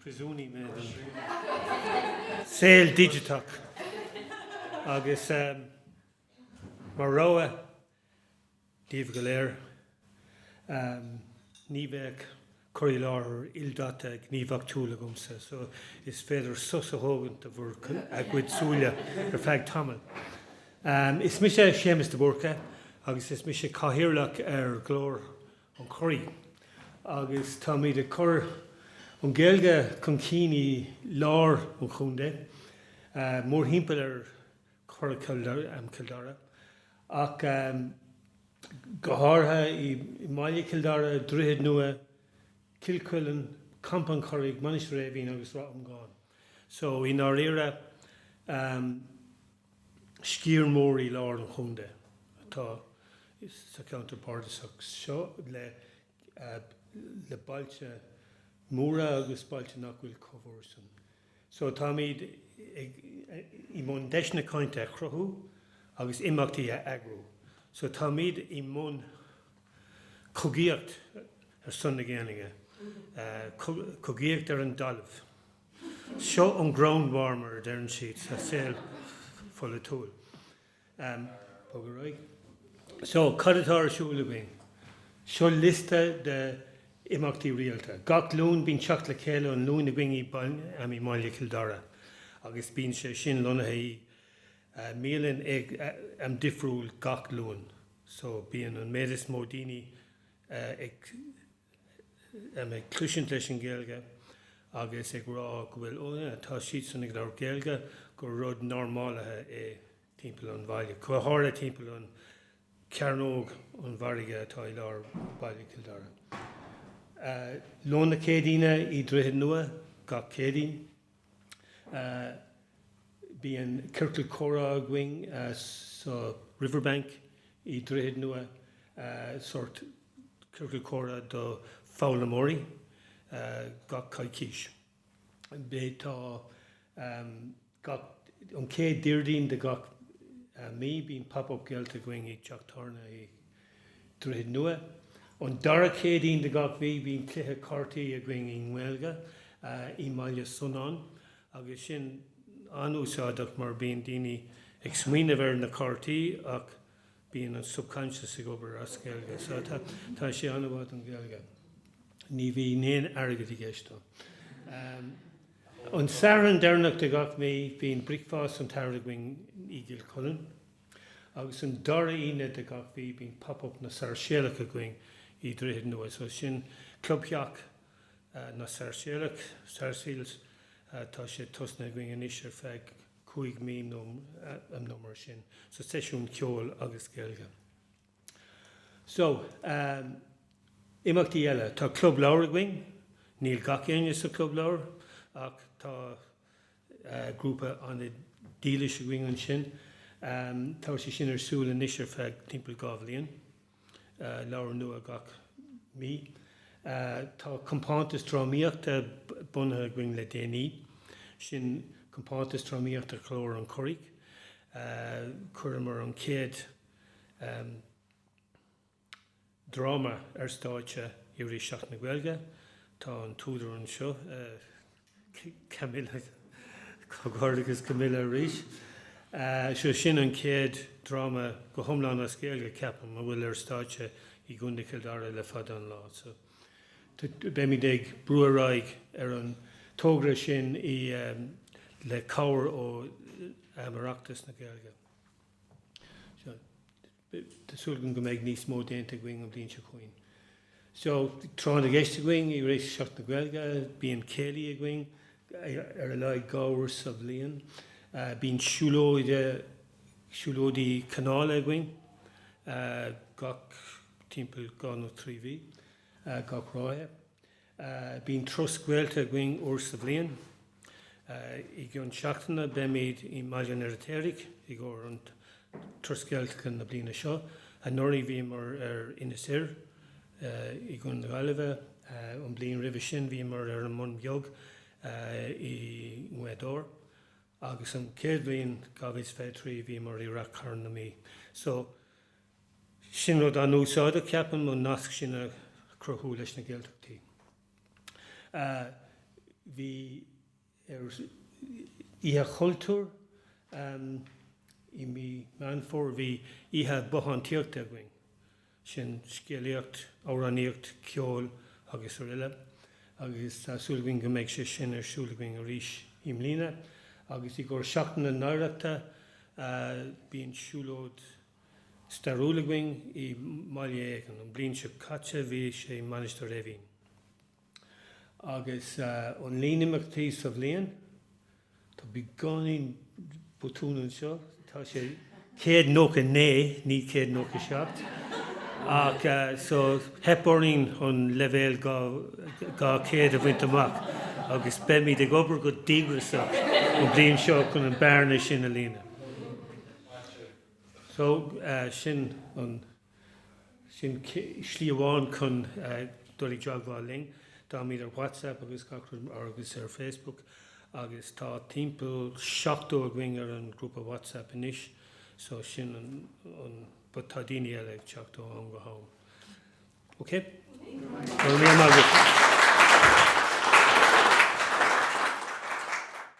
príosúnaí mé den saol digiteach agus mar rabhadh daoibh go léir, ní bheidh cur i láthair ildaite gníomhachtúil agamsa, so is féidir sos a thógaint do bhur gcuid súile ar feadh tamaill. Is mise Séamus de Búrca agus is mise Cathaoirleach ar Ghlór. an Churraigh agus táimid ag cur an Ghaeilge chun cinn i lár an chontae, mórthimpeall ar Churrach Chill Dara ach go háirithe i mbaile Chill Dara, Droichead Nua, Cill Chuilinn, Campa an Churraigh, Mainistir Eimhín agus Ráth Iomgháin. So i ndáiríre. Sciar mór i lár an chontae atá sa cheantar bardasach seo le bailte móra agus bailte nach bhfuil chomh mór san. So táimid i mbun deiseanna cainte a chruthú agus imeachtaí a eagrú. So táimid i mbun cogaíocht ar son na Gaeilge, cogaíocht ar an dtalamh. Seo an 'ground war' mar a deireann siad sa saol pholaitiúil. Bog ar aghaidh. So, cad atá ar siúl againn? Seo liosta de imeachtaí rialta. Gach Luan bíonn teacht le chéile an Luain againn i mBaile Chill Dara agus bíonn sé sin lonnaithe i mbialann am difriúil gach Luan. So, bíonn an méid is mó daoine ag. a mbeidh cloisint leis an Ghaeilge agus ag rá go bhfuil, ó na, tá siadsan ag labhairt Gaeilge, gur rud normálaithe é timpeall an bhaile, go háirithe timpeall an Cearnóg an Mhargaidh atá i lár Baile Chill Dara. Lón na Céadaoine i Droichead Nua gach Céadaoin. Bíonn ciorcal comhrá againn sa Riverbank i Droichead Nua, sórt ciorcal comhrá do foghlaimeoirí, gach coicís. Tá gach, an chéad Déardaoin de gach mí, bíonn Pop Up Gaeltacht againn i dteach tábhairne i. Droichead Nua. An dara Céadaoin de gach mhí bíonn cluiche cártaí againn i nGaeilge i mBaile Sonáin agus sin an-úsáideach mar bíonn daoine ag smaoineamh ar na cártaí ach bíonn an subconscious ag obair as Gaeilge so tá sé an-mhaith don Ghaeilge. Ní bhíonn aon airgead i gceist dó. An Satharn deireanach de gach mí bíonn Bricfeasta an tSathairn againn i gCill Chuilinn. Agus an dara Aoine de gach mí bíonn Pop Up na Sairséalach againn i nDroichead Nua. So sin Club Theach na Sairséalach, Sarsfields. Tá sé tosnaithe againn anois ar feadh cúig mí nó mar sin. So seisiún ceoil agus Gaeilge. So ehm imeachtaí eile, tá Club Leabhar againn. Níl gach éinne sa Club Leabhar ach tá, grúpa an-dílis againn ansin. Tá sé sin ar siúl anois ar feadh timpeall dhá bhliain, leabhar nua gach mí. Tá compántas drámaíochta bunaithe againn le déanaí, sin Compántas Drámaíochta Ghlór an Churraigh. Chuireamar an chéad. dráma ar stáitse i rith Seachtain na Gaeilge. Tá an t-údar anseo, Camilla, comhghairdeachas Camilla arís! So, sin an chéad dráma go hiomlán as Gaeilge, ceapaim, a bhfuil ar stáitse i gContae Chill Dara le fada an lá. So, beimid ag brú ar aghaidh ar an togra sin le cabhair ó Oireachtas na Gaeilge. So. Tá súil againn go mbeidh níos mó déanta againn an bhliain seo chugainn. So tráth na gceist againn i rith Sheachtain na Gaeilge. Bíonn céilí againn ar a laghad dhá uair sa bhliain. Bíonn siúlóide, siúlóidí canála againn gach, timpeall dhá nó trí mhí, gach ráithe. Bíonn turas Gaeltachta againn uair sa bhliain. I gcionn seachtaine beimid i mBaile an Fheirtéaraigh i gcomhair an turas Gaeltachta na bliana seo. Anuraidh bhíomar ar Inis Oírr i gContae na Gaillimhe. An bhliain roimhe sin bhíomar ar an mBun Beag i nGaoth Dobhair. Agus an chéad bhliain, 2023, bhíomar i Ráth Chairn na Mí. Sin rud an-úsáideach, ceapaim, an nasc sin a chruthú leis na Gaeltachtaí. Bhí ar Oíche Chultúir i mí Meán Fómhair, bhí oíche bothántaíochta againn, sin scéalaíocht, amhránaíocht, ceol agus araile agus tá súil againn go mbeidh sé sin ar siúl againn arís i mbliana. Agus i gcomhair Seachtain na hOidhreachta, bíonn siúlóid, stairiúil againn i mbaile éigin. An bhliain seo caite bhí sé i Mainistir Eimhín. Agus an líon imeachtaí sa bhliain, tá beagáinín botún anseo, tá sé céad nócha naoi, ní céad nócha seacht. Ach so theip orainn an leibhéal dhá chéad a bhaint amach agus beimid ag obair go díograsach an bhliain seo chun an bearna sin a líonadh. So, sin an, sin slí amháin chun dul i dteagmháil linn. Táimid ar WhatsApp agus gach rud agus ar Facebook agus tá timpeall seachtó againn ar an ghrúpa WhatsApp anois so sin an, but tá daoine eile ag teacht ó am go ham. OK? Go raibh maith agat.